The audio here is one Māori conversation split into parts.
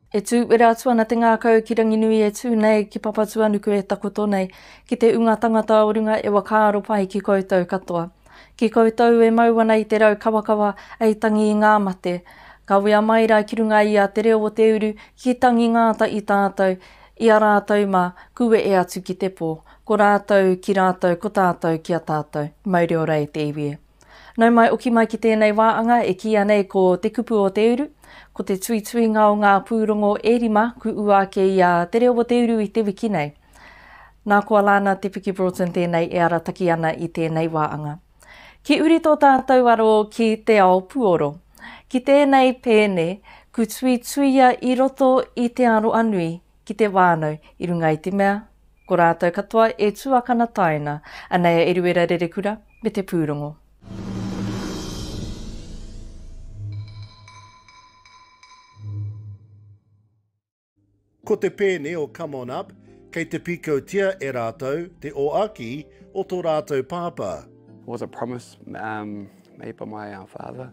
E tū wera atu ana te ngākau ki Ranginui e tū nei ki Papatuanuku e takoto nei, ki te ūnga tangata o runga e wakaaro pai ki koutou katoa. Ki koutou e mau ana i te rau kawakawa ei tangi i ngā mate, kawea mai ra ki runga i a te reo o te uru ki tangi ngāta i tātou, i a rātou mā, kuwe e atu ki te pō. Ko rātou ki rātou ko tātou ki a tātou. Mauri ora e te iwi e. Nau mai oki mai ki tēnei wā anga e kīia nei ko Te Kupu o Te Uru, ko te tuituinga o ngā pūrongo e rima ku ua ake i a Te Reo o Te Uru i te wiki nei. Nā ko Alana Te Piki Broughton tēnei e arataki ana i tēnei wā anga. Ki uri tō tātou aro ki te ao puoro. Ki tēnei pēne, ku tuituia i roto i te aroa nui, ki te whānau i runga i te mea, ko rātou katoa e tuakana taina, anei a Eruera Rerekura me te pūrongo. Ko te pēne o Come On Up, kei te pīkautia e rātou te oaki o tō rātou pāpā. Was a promise made by my father.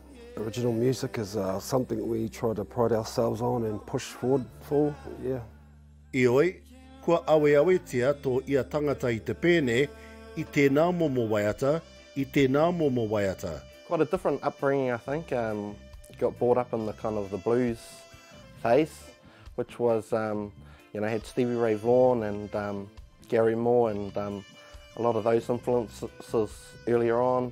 Original music is uh, something we try to pride ourselves on and push forward for, yeah. Ioi, kua aweawetia tō ia tangata i te pēne, i tēnā momo waiata, i tēnā momo waiata. Quite a different upbringing, I think. Um, got brought up in the kind of the blues phase, which was, um, you know, had Stevie Ray Vaughan and um, Gary Moore and um, a lot of those influences earlier on.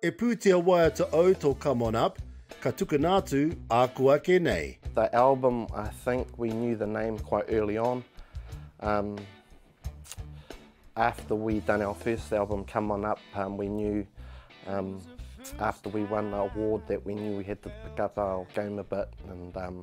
E pūtea waiata au tō Come On Up, ka tukuna atu ā kua kē nei. The album I think we knew the name quite early on um after we done our first album Come On Up um we knew um after we won the award that we knew we had to pick up our game a bit and um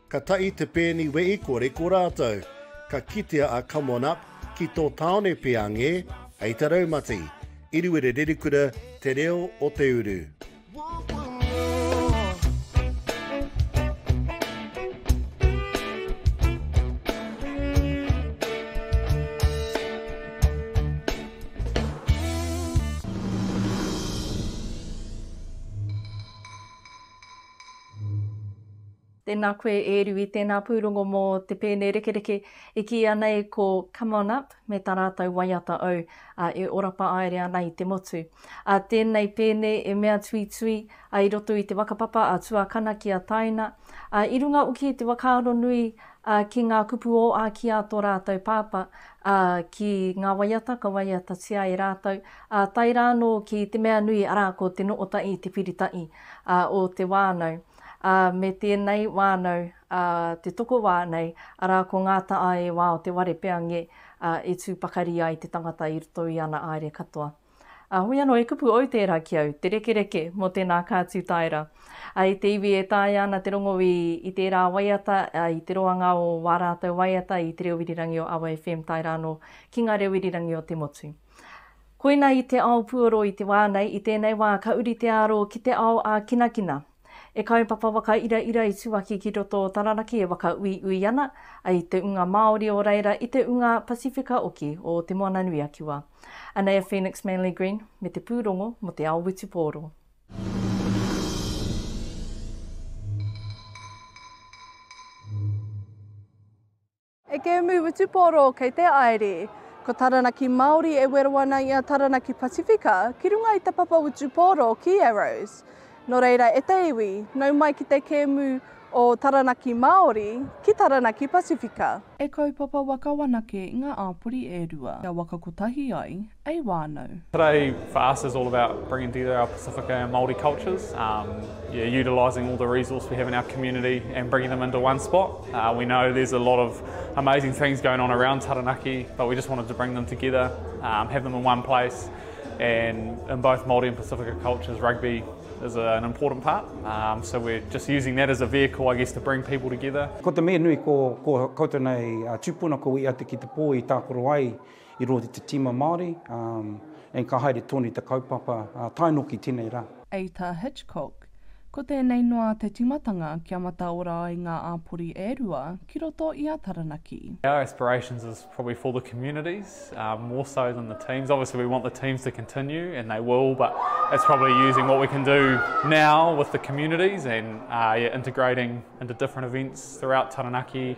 Ka tahi te pēni wehi kore ko rātou. Ka kitea a Come On Up ki tō tāone pea ngē, hei te raumati. I Ruererekura te reo o te uru. Tēnā koe e Rui, tēnā pūrongo mō te pēne rekereke e kīia nei ko Come On Up me tā rātou waiata ou e ora paāere ana i te motu. A tēnei pēne e mea tuitui a i roto i te wakapapa a Tuakana ki a Taina, a i runga oki i te wakaaro nui a ki ngā kupu o a ki a to rātou pāpa, a ki ngā waiata ka waiatatia e rātou, a tae rāno ki te mea nui ara ko Te Noota'i te pirita'i a o te wānau. ā, me tēnei wānau, ā, te tokowā nei, arā, ko ngā taʻa e wā o te ware peange, ā, e tū pakari ai te tangata i roto i ana aere katoa. Ā, hoi anō, e kupu au tērā ki au, te rekereke mō tēnā kātū taera. Ā, i te iwi e taea ana te rongo i, i tērā waiata, ā, i te roanga o wā rātou waiata i Te Reo Irirangi o Awa FM tae rā anō ki Ngā Reo Irirangi o te Motu. Koina i te ao puoro i te wā nei, i tēnei wā ka uri te aro ki te ao ā-kinakina. E kaupapa whakairaira i Tuaki ki roto o Taranaki e whakauiui ana ai te unga Māori o reira i te unga Pasifika oki o Te Moana-nui-a-Kiwa. Anei a Phoenix Manley-Green me te pūrongo mō te ao witupōro. E Keemu Wutupōro, kei te Aere. Ko Taranaki Māori e wero ana i a Taranaki Pacifica ki runga i te papa wutupōro ki Yarrows. Nō reira e te iwi, nau mai ki te kēmu o Taranaki Māori ki Taranaki Pacifica. E kaupapa waka wanake ngā āpori e rua kia waka kotahi ai, ei wānau. Today for us is all about bringing together our Pacifica and Māori cultures, um, yeah, utilising all the resource we have in our community and bringing them into one spot. Uh, we know there's a lot of amazing things going on around Taranaki, but we just wanted to bring them together, um, have them in one place, and in both Māori and Pacifica cultures, rugby is a, an important part. Um, so we're just using that as a vehicle, I guess, to bring people together. Ko te mea nui ko, ko koutou nei uh, tūpuna ko ia te ki te pō i tākoro ai I roto i te tīma Māori, and ka haere tonu i te kaupapa taenoki tenei rā. Aita Hitchcock, Ko tēnei noa te timatanga kia mataora ai ngā āpori e rua ki roto i a Taranaki. Our aspirations is probably for the communities more so than the teams. Obviously we want the teams to continue and they will but it's probably using what we can do now with the communities and integrating into different events throughout Taranaki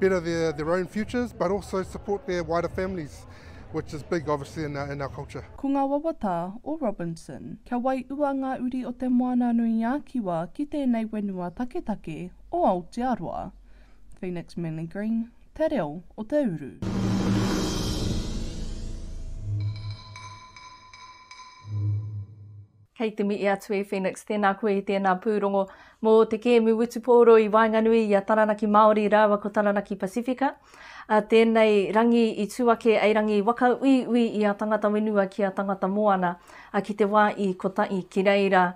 better their, their own futures, but also support their wider families, which is big, obviously, in our, in our culture. Ko ngā wawata o Robinson. Kia waiua ngā uri o Te Moananui-a-Kiwa ki tēnei whenua taketake o Aotearoa. Phoenix Manly Green, Te Reo o te Uru. Kei te mihi atu e Phoenix, tēnā koe i tēnā pūrongo mō te kēmu wutupōro i waenganui i a Taranaki Māori rāua ko Taranaki Pasifika. Tēnei rangi i tū ake ei rangi waka uiui i a tangata whenua ki a tangata moana ki te wā i kotahi ki reira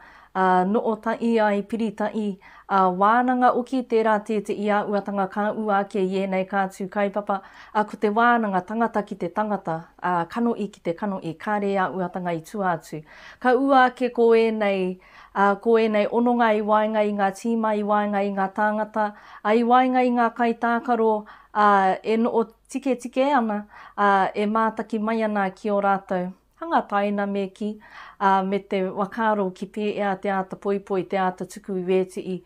noo tahi ai, piri tahi, wānanga oki tērā tētehi āhuatanga ka ua ake i ēnei ka tū kaupapa ko te wānanga tangata ki te tangata, kanohi ki te kanohi, kāre āhuatanga i tua atu. Ka ua ake ko ēnei, ā, ko ēnei hononga i waenga i ngā tīma, i waenga i ngā tāngata, ā, i waenga i ngā kaitākaro, ā, e noho tiketike ana, ā, e mātaki mai ana ki ō rātou hanga taina me kī, ā, me te whakaaro ki pēhea te āta poipoi, te āta tuku i ētehi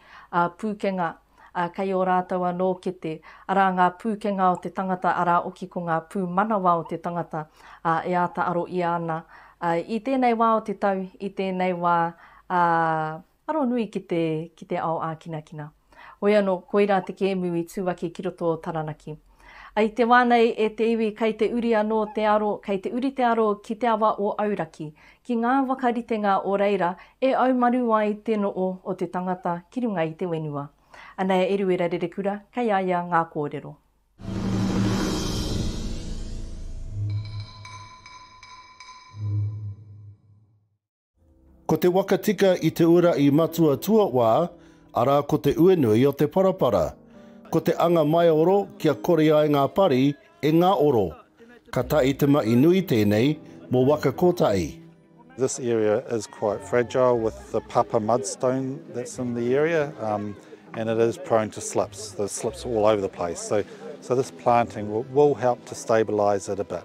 pūkenga. ā, kei ō rātou anō kete, arā ngā pūkenga o te tangata, arā hoki ko ngā pūmanawa o te tangata, ā, e āta aro ʻia ana, ā, i tēnei wā o te tau, i tēnei wā, ā, aro nui ki te, ki te ao ākinakina. Hoi anō, koirā te kēmu i tū ake ki roto o Taranaki. I te wā nei e te iwi kei te uri anō te aro, kei te uri te aro ki te awa o Auraki, ki ngā whakaritenga o reira e aumaru ai te noo o te tangata ki runga i te wenua. Anei a Eruera Rerekura kei a ia ngā kōrero. Ko te waka tika i te ura i matua tuawā, arā ko te uenui o te parapara. Ko te anga maioro kia kore ai ngā pari e ngaoro. Ka tae te maʻi nui tēnei mō waka kotahi. This area is quite fragile with the papa mudstone that's in the area um, and it is prone to slips, there's slips all over the place. So, so this planting will, will help to stabilise it a bit.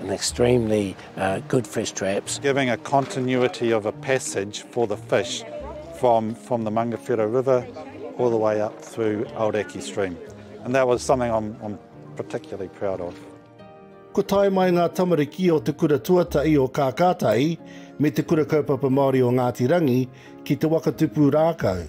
An extremely good fish traps. Giving a continuity of a passage for the fish from from the Mangawhero River all the way up through Aoraki Stream. And that was something I'm, I'm particularly proud of. Kua tae mai ngā tamariki o Te Kura Tuatahi o Kākātahi me Te Kura Kaupapa Māori o Ngāti Rangi ki Te Waka Tupu Rākau.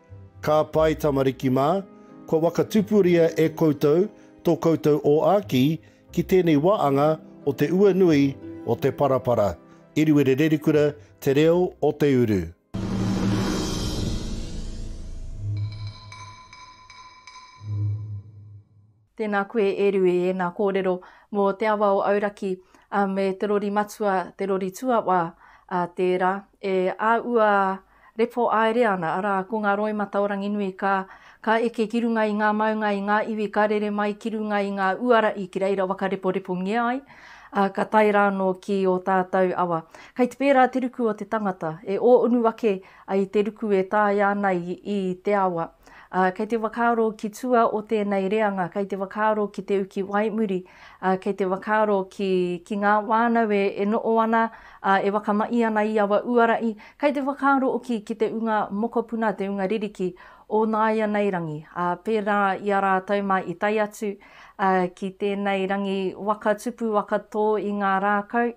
Ka pai tamariki mā, kua wakatupuria e koutou tō koutou ōāki ki tēnei waanga o te ua nui o te parapara, Iriwere Rerikura, Te Reo o te Uru. Tēnā koe Eru i ēnā kōrero mō Te Awa o Auraki me te rori matua, te rori tuawā tērā e āua repo aere ana, arā, ko ngā roimata o Ranginui ka ka eke ki runga i ngā maunga, i ngā iwi ka rere mai ki runga i ngā uara i ki reira wakareporepongia ai, ā, ka tae rānō ki ō tātou awa. Kei te pērā te ruku o te tangata, e ō unu ake ai te ruku e taea ana i te awa. ā, kei te whakaaro ki tua o tēnei reanga, kei te whakaaro ki te uki waimuri, ā, kei te whakaaro ki, ki ngā wānau e, e noʻo ana, ā, e whakamaʻi ana i awa uaraʻi, kei te whakaaro oki ki te unga mokopuna, te unga ririki o nāianei rangi, ā, pērā i a rātou mā i tae atu, ā, ki tēnei rangi waka tupu, waka tō i ngā rākau.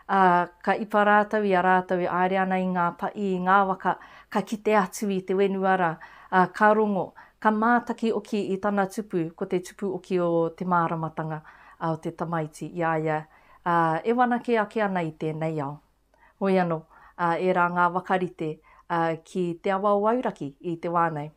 ā, ka ipa rātou i a rātou e aere ana i ngā pa, i ngā waka, ka kite atu i te whenua ra, ā, ka rongo, ka mātaki oki i tana tupu, ko te tupu oki o te māramatanga, ā, o te tamaiti, i a ia, ā, e whanake ake ana i tēnei ao. Hoi anō, ā, ērā ngā waka rite, ā, ki te awa o Auraki, i te wā nei.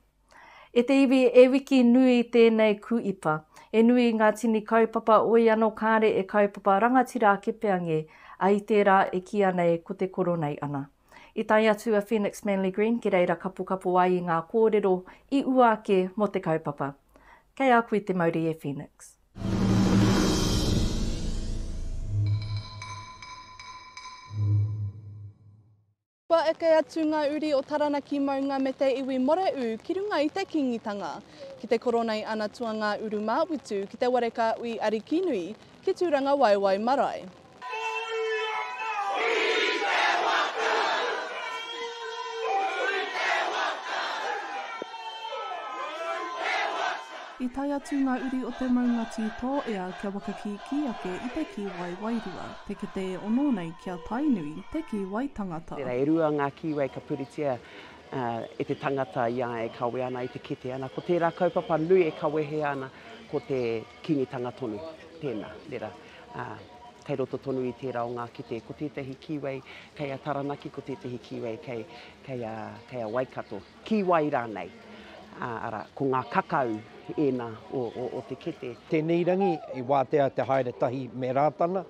E te iwi, e wiki nui tēnei kuipa. E nui ngā tini kaupapa oi ano kāre e kaupapa rangatira ake pea nge, a i tērā e kīa nei ko te koro nei ana. I tae atu a Phoenix Manly Green ki reira kapokapo ai i ngā kōrero i ua ake mo te kaupapa. Kei a koe te mauri e Phoenix. Kua eke atu ngā uri o Taranaki maunga me te iwi Moreʻu ki runga i te Kīngitanga, ki te Koronei ana tuangā urumāwutu, ki te Warekāui Arikinui, ki Tūrangawaewae marae. I tae atu ngā uri o te maunga tū tōea kia whakakīkī ake i te kī waewae rua. Te kete e ono nei ki a Tainui, te kīwai tangata. Tērā e rua ngā kīwai ka puritia e te tangata i a e kawe ana i te kete ana. Ko tērā kaupapa nui e kawehea ana ko te kīngitanga tonu. Tēnā, rera, ā, kei roto tonu i tērā o ngā kete, ko tētahi kīwai kei a Taranaki, ko tētahi kīwai kei, kei a, kei a Waikato. Ki wai rānei? Arā, ko ngā kakau ēnā o te kete. Tēnei rangi i wātea te haere tahi me Rātana,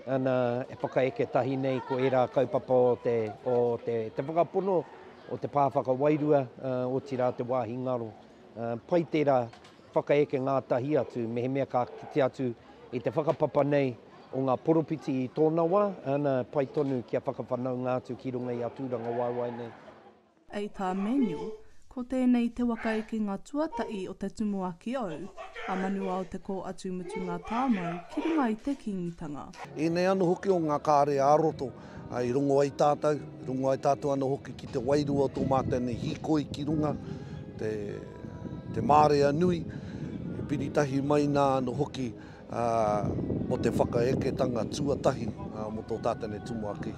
nā, e whakaeke tahi nei ko ērā kaupapa o te, o te, te whakapono o te pā whakawairua, otirā te wāhi ngaro. Pai tērā whakaeke ngātahi atu mehemea ka kite atu i te whakapapa nei o ngā poropiti i tōna wā, nā, pai tonu kia whakawhanaunga atu ki runga i a tūrangawaewae nei. Ei tā Manuel, Ko tēnei te waka i ki ngā tuatahi o te tumuaki au, a Manuao te kō atu mutunga tāmau ki runga i te Kīngitanga. Ēnei anō hoki o ngā kare ā-roto i rongo ai tātou, i rongo ai tātou anō hoki ki te wairua o tō mātou nei hīkoi ki runga, te, te mārea nui, e piri tahi mai nā anō hoki. mō te whakaeketanga tuatahi mō tō Tātene Tumuaki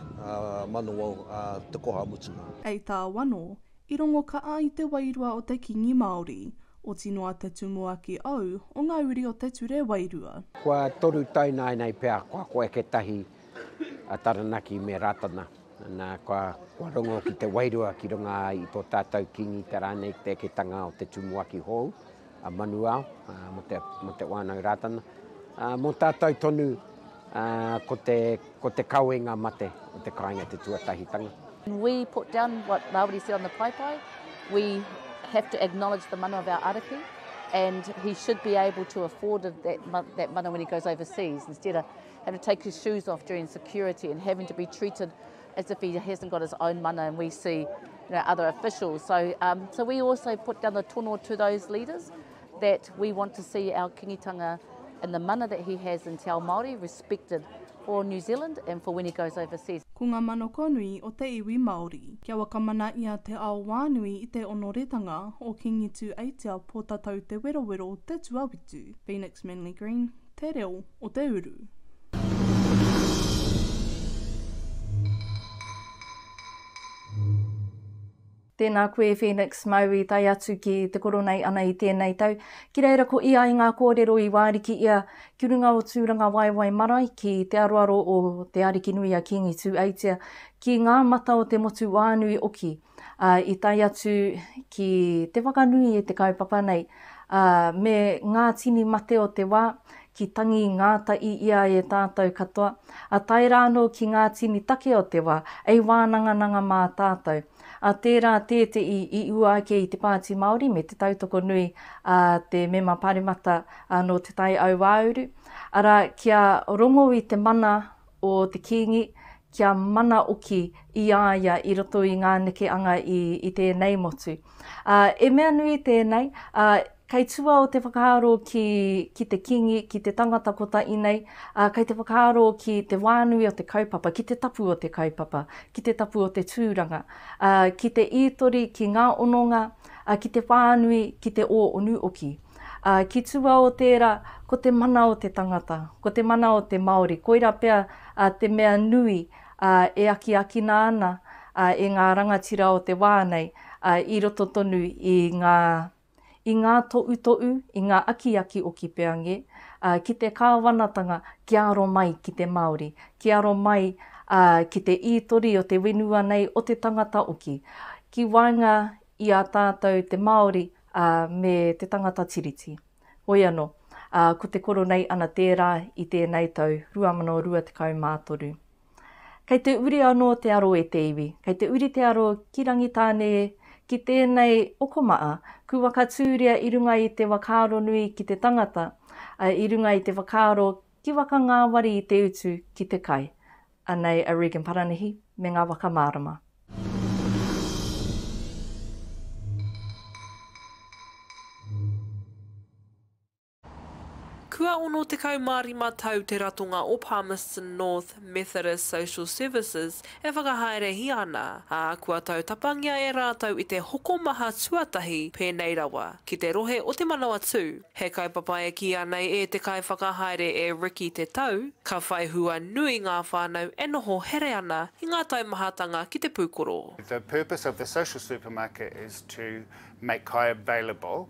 Manawao te koha mutunga. Hei tā Wano, i rongo kaha i te wairua o te Kīngi Māori, oti noa te Tumuaki ou o ngā uri o te ture wairua. Kua toru tau nāinei pea kua koeke tahi a Taranaki me Rātana, nā, kua rongo ki te wairua ki runga i tō tātou Kīngi te rānei te eketanga o te Tumuaki hou, a Manuao, mo te, mo te wānau Rātana. Mo tātou tonu, ko te, ko te kawenga mate o te kāinga te tuatahitanga. We put down what Rawiri said on the paipai, we have to acknowledge the mana of our ariki, and he should be able to afford that, that mana when he goes overseas, instead of having to take his shoes off during security and having to be treated as if he hasn't got his own mana and we see you know, other officials. So, um, so we also put down the tono to those leaders that we want to see our kingitanga and the mana that he has in Te Ao Māori respected for New Zealand and for when he goes overseas. Ko ngā manako nui o te iwi Māori. Kia wakamana i a Te Ao Wānui i te onoretanga o Kingi Tū Aitia Pōtatau Te Werowero Te Tuawitu, Phoenix Manly Green, Te reo o te uru. Tēnā koe Phoenix, māu i tae atu ki te koro nei ana i tēnei tau. Ki reira ko ia i ngā kōrero i wāriki ia ki runga o Tūrangawaewae marae ki te aroaro o Te Arikinui a Kīngi Tūeitia, ki ngā mata o te motu wānui oki. ā, i tae atu ki te whakanui i te kaupapa nei, ā, me ngā tini mate o te wā, ki tangi ngāta i ia e tātou katoa, ā tae rā anō ki ngā tini take o te wā, ei wānangananga mā tātou. Ā, tērā tētehi i ua ake i te Pāti Māori me te tautoko nui a te Mema Pāremata nō Te Tai Auāuru, arā, kia rongo i te mana o te Kīngi, kia mana oki i a ia i roto i ngā neke anga i, i tēnei motu. Ā, e mea nui tēnei, ā, kei tua o te whakaaro ki, ki te Kīngi, ki te tangata kotahi nei, ā, kei te whakaaro ki te wānui o te kaupapa, ki te tapu o te kaupapa, ki te tapu o te tūranga, ā, ki te ītori, ki ngā ononga, ā, ki te whānui, ki te ō onu oki. Ā, ki tua o tērā, ko te mana o te tangata, ko te mana o te Māori, koirā pea te mea nui e akiakina ana e ngā rangatira o te wā nei i roto tonu i ngā, i ngā toʻutoʻu, i ngā akiaki o Kipeange, ki te Kāwanatanga kia aro mai ki te Māori, kia aro mai ki te ī-tori o te whenua nei, o te tangata hoki. Ki waenga i a tātou te Māori, ā, me te tangata Tiriti. Hoi anō, ā, ko te koro nei ana tērā i tēnei tau 2023. Kei te uri anō te aro e te iwi, kei te uri te aro ki Rangitāne e, ki tēnei okomaa, ku whakatūria i runga i te wakaaro nui ki te tangata, ā, i runga i te whakaaro Ki waka ngāwari i te utu ki te kai. Anei a Regan Paranihi me ngā waka mārama. Kua 65 tau te ratonga o Palmerston North Methodist Social Services e whakahaerehia ana, ā, kua tautapangia e rātou i te hokomaha tuatahi pēnei rawa, ki te rohe o Te Manawatū. He kaupapa e kīia nei e te kaiwhakahaere e Ricky Te Tau, ka whai hua nui ngā whānau e noho here ana i ngā taumahatanga ki te pūkoro. The purpose of the social supermarket is to make kai available.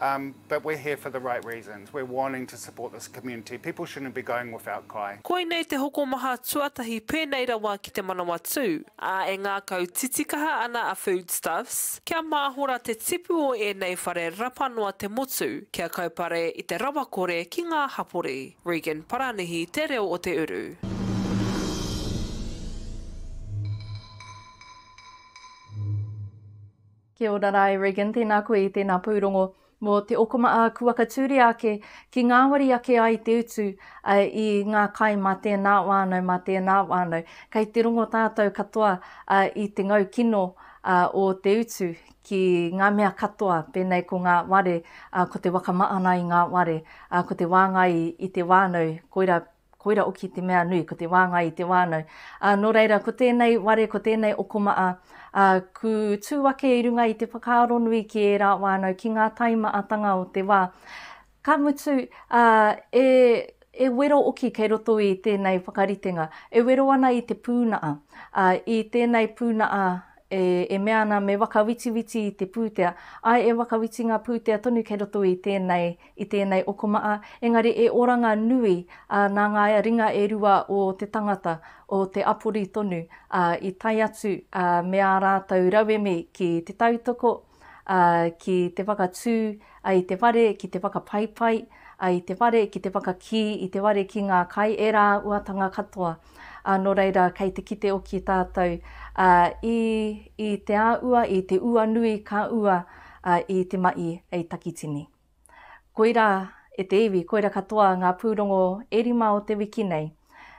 Um, but we're here for the right reasons. We're wanting to support this community. People shouldn't be going without kai. Koinei te hokomaha tuatahi pēnei rawa ki te Manawatū, ā, e ngākau titikaha ana a Foodstuffs kia māhora te tipu o ēnei whare rapa noa te motu kia kaupare i te rawakore ki ngā hapori. Regan Paranihi, Te Reo o Te Uru. Kia ora ra e Regan, tēnā koe i tēnā pūrongo mō te okoma ā, kua katūria ake ki ngāwari ake ai te utu i ngā kai mā tēnā wānau, mā tēnā wānau. Kei te rongo tātou katoa i te ngau kino o te utu ki ngā mea katoa, pēnei ko ngā ware, ko te waka maana i ngā ware, ko te wāngai i te wānau, koira Koira oki te mea nui, ko te wāngai i te wānau. Ā, nō reira, ko tēnei ware, ko tēnei okomaa, ā, ku tū ake i runga i te whakaaro nui ki ērā wānau, ki ngā taimaatanga o te wā. Ka mutu, ā, e, e wero oki kei roto i tēnei whakaritenga, e wero ana i te pūnaa, ā, i tēnei pūnaa e, e mea ana me whakawitiwiti i te pūtea, āe e whakawiti ngā pūtea tonu kei roto i tēnei, i tēnei okomaa, engari e oranga nui, ā, nā ngā ringa e rua o te tangata, o te apori tonu, ā, i tae atu, ā, me ā rātou rauemi ki te tautoko, ā, ki te whakatū, ā, i te whare ki te whakapaipai, ā, i te whare ki te whakakī, i te whare ki ngā kai, e rāuatanga katoa, ā, nō reira kei te kite oki tātou, ā, i, i te āua, i te ua nui ka ua, ā, i te maʻi hei takitini. Koirā e te iwi, koira katoa ngā pūrongo e rima o te wiki nei.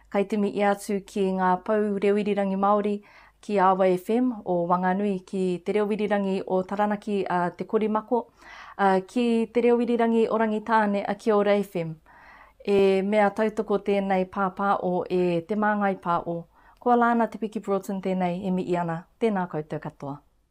Kaitimi ia atu ki ngā pou reo irirangi Māori, ki Awa FM o Wanganui, ki Te Reo Irirangi o Taranaki a Te Korimako, ā, ki Te Reo Irirangi o Rangitāne a Kiora FM. He mea tautoko tēnei pāpāo e Te Māngai Pāo. Ko Alana Te Piki Broughton tēnei e mihi ana. Tēnā koutou katoa.